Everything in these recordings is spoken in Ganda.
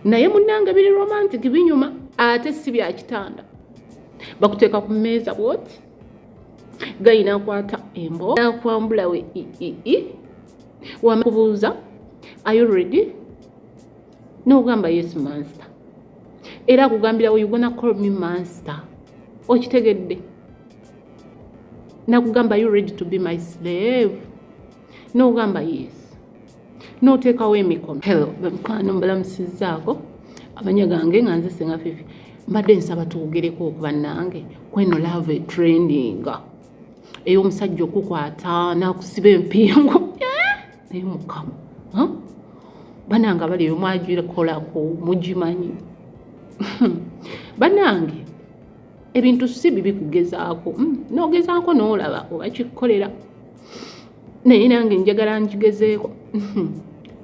naye munange biri romantic binyuma ate si bya kitanda bakuteeka ku mmeeza bwoti gayina akwata embo nakwambula we ii wamakubuuza ayuredi nogamba yes monster era akugambira we ugona call me monster okitegedde nakugamba you ready to be my slave nogamba yes noteekawo emikono hello bamukwana mbalamusizaako amanya gange nga nze senga fifi mbadde nsaba twogereko okuba nange kweno love trendinga ey'omusajja okukwata nakusiba empingo eh? naye mukama banange abali eyo mwagikolako mugimanyi banange ebintu si bibi kugezaako hmm, nogezaako nolaba oba kikukolera naye nange njagala njigezeeko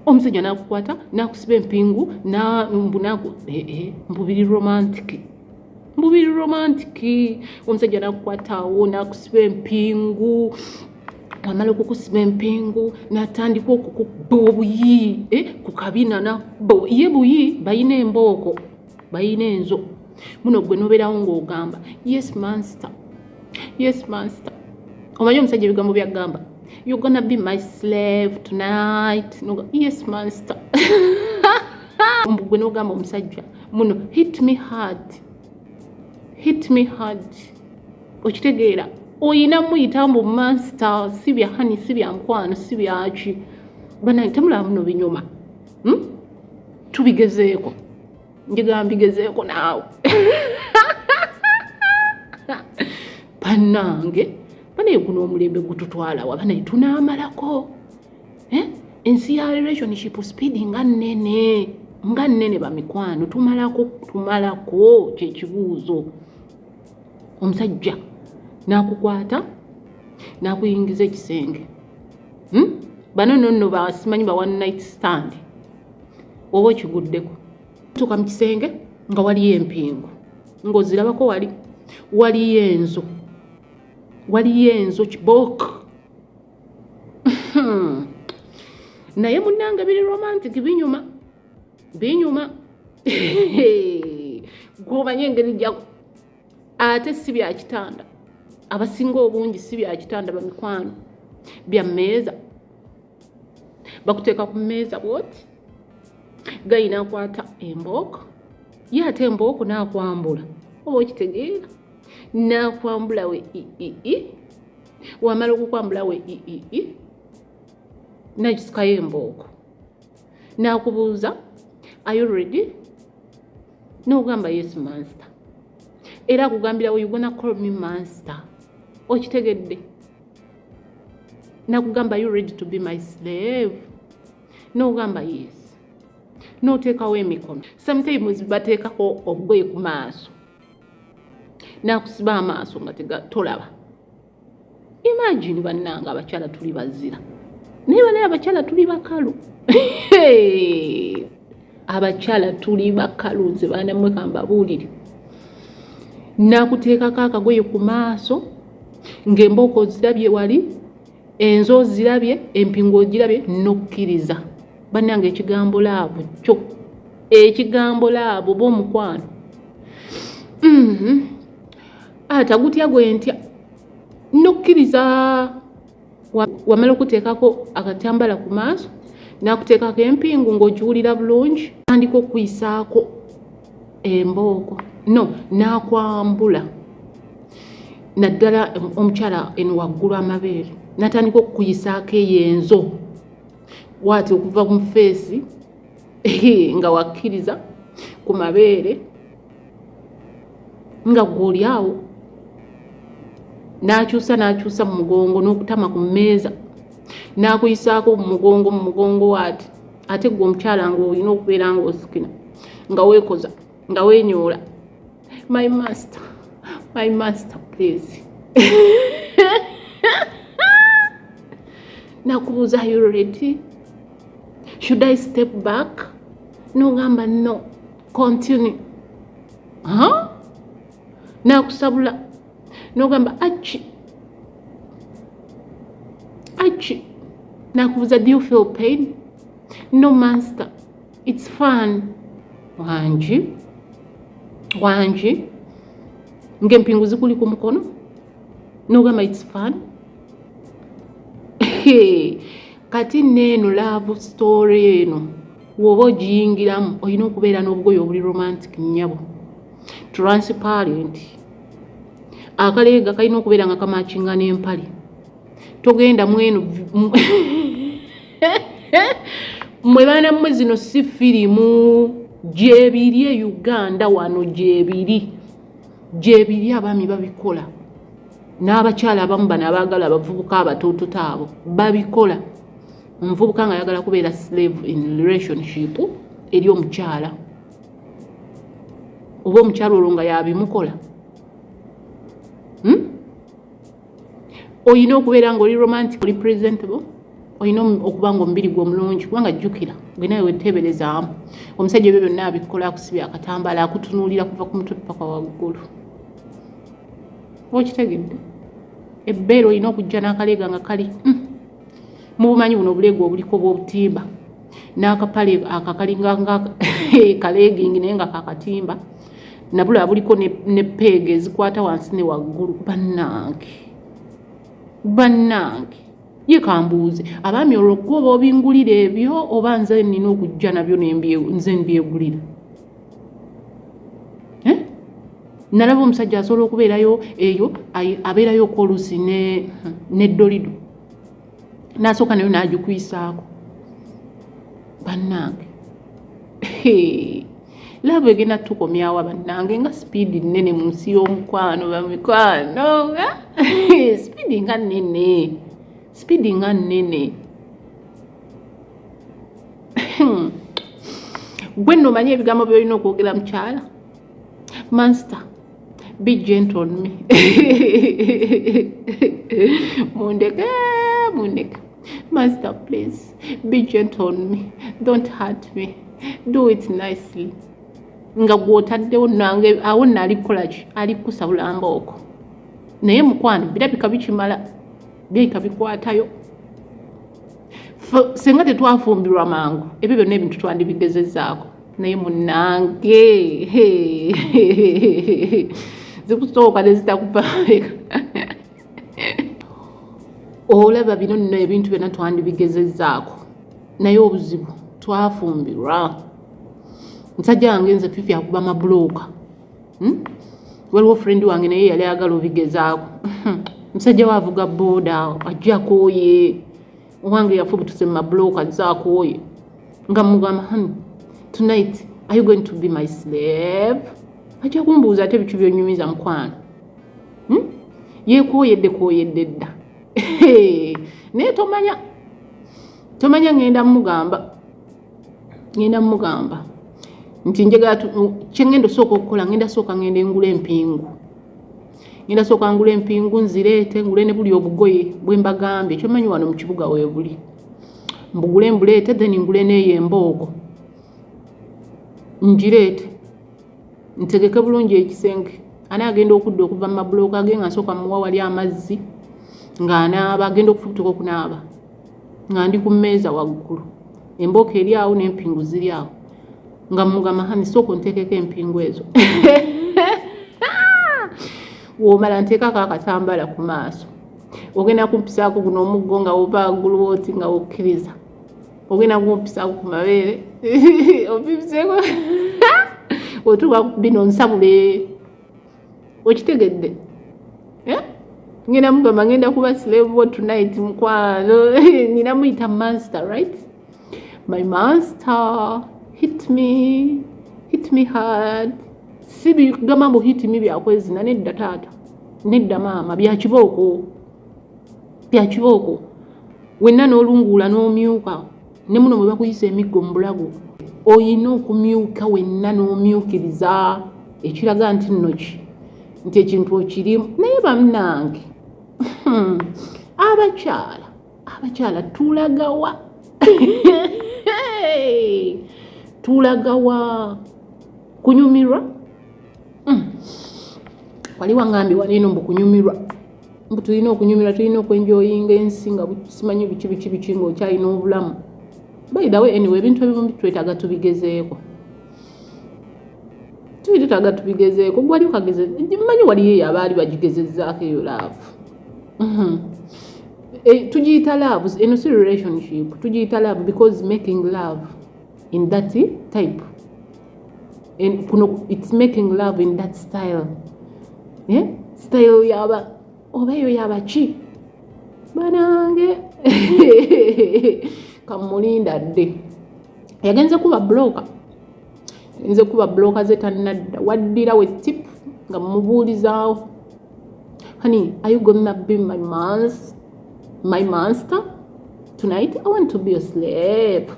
omusajja nakukwata nakusiba empingu mbu naku eh, eh, mbubiri romantic mbubiri romantic omusajja nakukwatawo nakusiba empingu amala okukusiba empingu natandika okukubba obuyi eh, ku kabina nabbo ye buyi bayina embooko bayina enzo muno gwe nobeerawo ng'ogamba yes manster yes manster omanyi omusajja ebigambo byagamba you gonna be my slave tonight no, yes manster gwe nogamba omusajja muno hit me hard hit me hard okitegeera oyina muyita mbu manster si bya hani si bya nkwano si byaki banange temulaba muno binyuma hmm? tubigezeeko njigala mbigezeeko naawe banange banaye guno omulembe gututwalawa banaye tunaamalako eh? ensi ya relationship speed nga nnene nga nnene bamikwano tumalako tumalako kyekibuuzo omusajja nakukwata nakuyingiza ekisenge hmm? bano nonno basimanyi ba one night stand oba okiguddeko tuka mu kisenge nga waliyo empingu ng'ozirabako wali waliyo enzo waliyo enzo kibok naye munange biri romantic binyuma binyuma gwomanye engeri ate si bya kitanda abasinga obungi si bya kitanda bamikwano bya mmeeza bakuteeka ku mmeeza bwoti gayina akwata embooko ye ate embooko naakwambula oba okitegeera naakwambula we iii wamala okukwambula we iii nakisukayo embooko n'akubuuza are you ready n'ogamba yes monster era akugambira we you gonna call me monster okitegedde nakugamba you ready to be my slave n'ogamba yes n'oteekawo emikono sometimes bateekako obugoye ku maaso n'akusiba amaaso nga tolaba imagine bannanga abakyala tuli bazira naye banaye abakyala tuli bakalu abakyala tuli bakalu nze baanamwe kambabuulire nakuteekako akagoye ku maaso ng'embooko ozirabye wali enzo ozirabye empingu ogirabye nokkiriza bannanga ekigambo laavu kyo ekigambo laavu oba omukwano mm-hmm. ata gutya gwe ntya nokkiriza wamala okuteekako akatambala ku maaso nakuteekako empingu ng'ogiwulira bulungi tandika okuyisaako embooko no nakwambula naddala omukyala eno waggulu amabeere natandika okukuyisaako eyo enzo waati okuva mu feesi nga wakkiriza ku mabeere nga gwoli awo n'akyusa n'akyusa mu mugongo n'okutama ku mmeeza n'akuyisaako mu mugongo mu mugongo waati ate gwe omukyala nga olina okubeera nga osikina nga weekoza nga wenyoola my master my master please nakubuuza you ready should i step back nogamba no continue huh? nakusabula nogamba aki aki nakubuza do you feel pain no master it's fun wangi wangi ng'empingu zikuli ku mukono nogamba it's fun kati neeno love story eno woba ogiyingiramu olina okubeera n'obugoye obuli romantic nyabo transparent akaleega kalina okubeera nga kamakinga n'empale togenda mwenu mwe baana mmwe zino si firimu gyebiri e uganda wano gyebiri gyebiri abaami babikola n'abakyala abamu bano abaagala abavubuka abatoototo abo babikola omuvubuka nga ayagala kubeera slave in relationship eri omukyala oba omukyala olwo nga yabimukola hmm? olina okubeera nga oli romantic oli presentable olina okuba nga omubiri gwe omulungi kubanga jjukira gwe nawe weteeberezaamu omusajja ebyo byonna abikola akusibya akatambala akutunuulira kuva ku mutwe paka waggulu okitegedde ebbeere olina okujja n'akaleega nga kali hmm. mubumanyi buno obuleegu obuliko bwobutimba n'akapale akakalinga nga kaleegingi naye nga kakatimba nabula buliko ne peega ezikwata wansi ne waggulu bannange bannange ye kambuuze abaami olwo kuba obingulira ebyo oba nze nina okujja nabyo nze mbyegulira eh? nalaba omusajja asobola okubeerayo eyo abeerayo okwoluusi neddolido nasooka nayo nagikuyisaako bannange laavu egenda tukomyawa bannange nga sipiidi nnene mu nsi y'omukwano bamikwano sipiidi nga nnene sipiidi nga nnene Hmm. gwe nno omanyi ebigambo byolina okwogera mukyala manster be gentle on me mundeke mundeke master please be gentle on me don't hurt me do it nicely nga gwotaddewo nange awo naali kukolaki ali kukusa bulamba oko naye mukwano birabika bikimala birabika bikwatayo senga tetwafumbirwa mangu ebyo byonna ebintu twandibigezezaako naye munange zikusooka nezitakupambeka olaba bino nno ebintu byonna twandibigezezaako naye obuzibu twafumbirwa musajja wange nze fifi akuba mabulooka hmm? waliwo friend wange naye yali ayagala obigezaako musajja we avuga booda ajja akooye owange yafubutuse mu mabulooka ajja akooye nga mugamba hani tonight are you going to be my slave ajja kumbuuza ate bicu byonyumiza mukwano hmm? yekooyedde kooyedde dda naye tomanya tomanya ŋŋenda mugamba ngenda mugamba nti njagala kyengenda osooka okukola ngenda sooka ngenda engula empingu ngenda sooka ngula empingu nzireete ngule ne buli obugoye bwe mbagambye ekyomanyi wano mu kibuga weebuli mbugule mbuleete then ngule neeyo emboogo ngireete ntegeke bulungi ekisenge ani agenda okudda okuva mu mabulooka ge nga nsooka muwa wali amazzi ng'anaaba agenda okufubutuka okunaaba nga ndi ku mmeeza waggulu embooko eri awo n'empingu ziri awo nga mugamba hani sooka onteekeko empingu ezo womala nteekako akatambala ku maaso ogenda kumpisaako guno omuggo nga wova waggulu wooti nga wokkiriza ogenda kumpisaako ku mabeere opipiseeko otuuka bino nsabule okitegedde eh? ngenda mugamba ngenda kuba slave tonight mukwano nina muyita master right my master hit me hit me hard si bigamba mbu hit me byakwezina nedda taata nedda maama byakibooko byakibooko wenna n'olunguula n'omyuka ne muno bwe bakuyisa emiggo mu bulago olina okumyuka wenna n'omyukiriza ekiraga nti nnoki nti ekintu okirimu naye bannange hmm, abakyala abakyala tulagawa tulagawa kunyumirwa hmm. wali wangambye waliino mbu kunyumirwa mbu tulina okunyumira tulina okwenjoyinga ensi nga simanyi biki biki biki ngaokyalina obulamu baidawe anyway ebintu ebimu twetaga tubigezeeko tubi tutaga tubigezeeko gwali okageze manyi waliyo eyo abaali bagigezezaako eyo laavu mhm. eh, tugiyita laavu eno si relationship tugiyita laavu because making love in that type and kuno it's making love in that style eh? style yaba oba eyo yaba ki banange kamulinda dde yagenze kuba bloka yagenze kuba bloka ze tanadda waddira we tip nga mubuulizaawo honey are you gonna be my monster my monster tonight i want to be a slave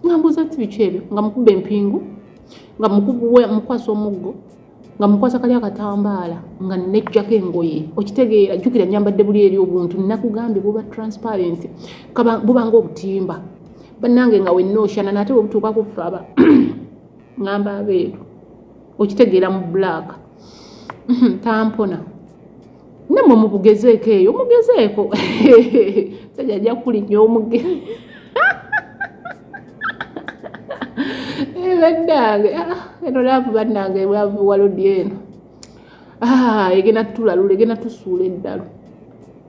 nga mbuuza ti biki ebyo nga mukuba empingu nga mukwasa omuggo nga mukwasa kali akatambaala nga nejjako engoye okitegeera jjukira nyambadde buli eri obuntu nakugambye buba transparent bubanga obutimba bannange nga wenna oshana naate webutuuka kuffe aba ngamba abeeru okitegeera mu black tampona namwe mubugezeeko eyo mugezeeko sajja ajja kukulinnya omuge eh, bannange ah, eno laavu bannange laavu walodi eno ah, egenda tulalula egenda tusuula eddalu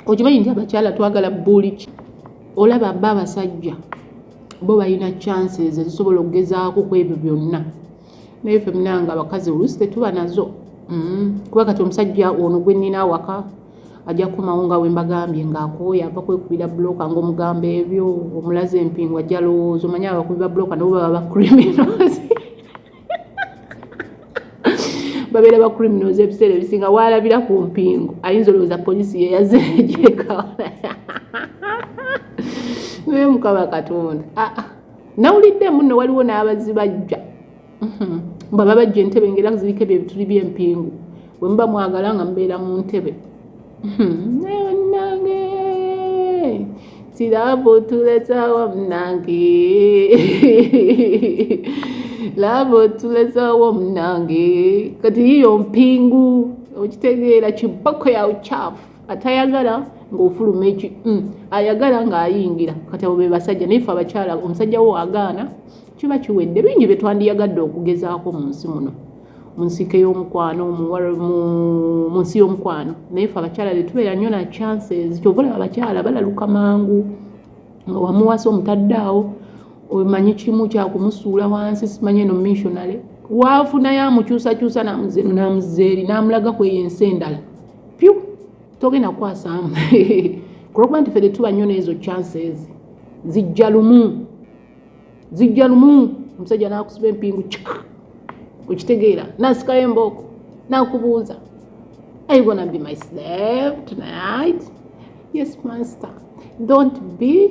okimanyi nti abakyala twagala buliki olaba ba abasajja bo balina chances ezisobola okugezaako ku ebyo byonna naye fe munanga abakazi oluusi tetuba nazo mm. kuba kati omusajja ono gwe nnina awaka ajja kukomawo nga wembagambye ngaakooya ava kwekubira buloka ngaomugamba ebyo omulaze empingu ajja lowooza omanyi abakubi ba buloka nabo baba bacriminals babeera ba criminals ebiseera ebisinga waalabira ku mpingu ayinza olowooza poliisi yeyaze egyekawana naye mukaba katonda aa ah, ah. nawulidde munno waliwo n'abazibajja mhm. mba babajja entebe ngaera kuzirika ebyo ebituli by'empingu bwe muba mwagala nga mubeera mu ntebe mhm. naye bannange kiraabu tulezawo munange laabu tulezawo munange kati yiyo mpingu okitegeera kiboko ya uchafu atayagala ng'ofuluma eki mm, ayagala ng'ayingira kati abo be basajja naye fe abakyala omusajja wo agaana kiba kiwedde bingi bye twandiyagadde okugezaako mu nsi muno mu nsike y'omukwano mu nsi y'omukwano naye fe abakyala be tubeera nnyo na chances kyova olaba abakyala balaluka mangu nga wamuwasa omutaddaawo omanyi kimu kyakumusuula wansi simanyi eno missionary waafunayo amukyusakyusa namuzeeri namulaga kweyo ensi endala pyu togenda kukwasaamu kulwokuba nti fede tuba nnyo neezo chances zijja lumu zijja lumu omusajja nakusiba empingu kika okitegeera nasikayo embooko nakubuuza i gonna be my slave tonight yes master don't be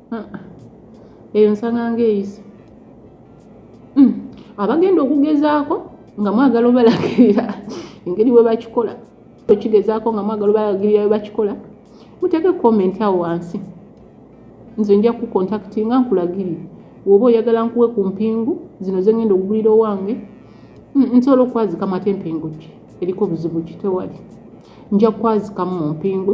ah, eyo nsanga ngaeyisa hmm, abagenda okugezaako nga mwagala obalagirira engeri bwe bakikola okigezaako nga mwagala obalagirira bwe bakikola muteeke comment awo wansi nze nja kukontaktinga nkulagirire woba oyagala nkuwe ku mpingu zino zengenda okugulira owange hmm, nsobola okwazikamu ate empingu ki eriko buzibu ki tewali nja kwazikamu mu mpingu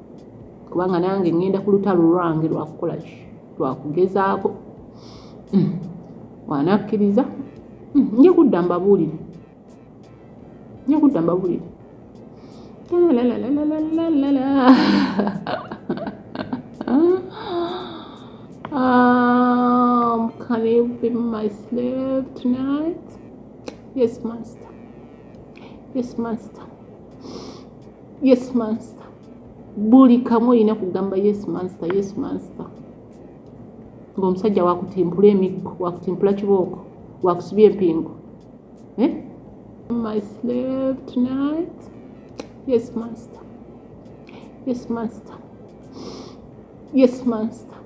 kubanga nange ŋŋenda ku lutalo lwange lwakukola ki lwakugezaako hmm. wanakkiriza hmm. nja kudda mbabuulire nja kudda mbabuulire Um, can you be my slave tonight? Yes, master. Yes, master. yes master buli kamu olina kugamba yes master yes master ngaomusajja wakutimpula emiggo wakutimpula kibooko wakusiba empingo eh? my slave tonight yes master yes master yes master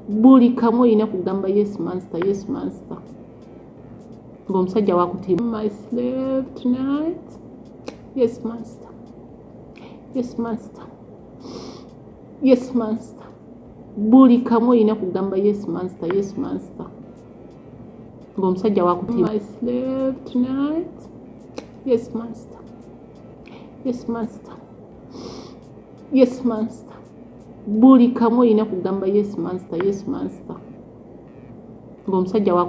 buli kamu olina kugamba yes master yes master Ngo omusajja wakutima. My slave tonight. Yes master. Yes master. Yes master. Buli kamu olina kugamba yes master, yes master. Ngo omusajja wakutima. My slave tonight. Yes master. Yes master. Yes master. Buli kamu olina kugamba yes master, yes master. Ngo omusajja wakutima.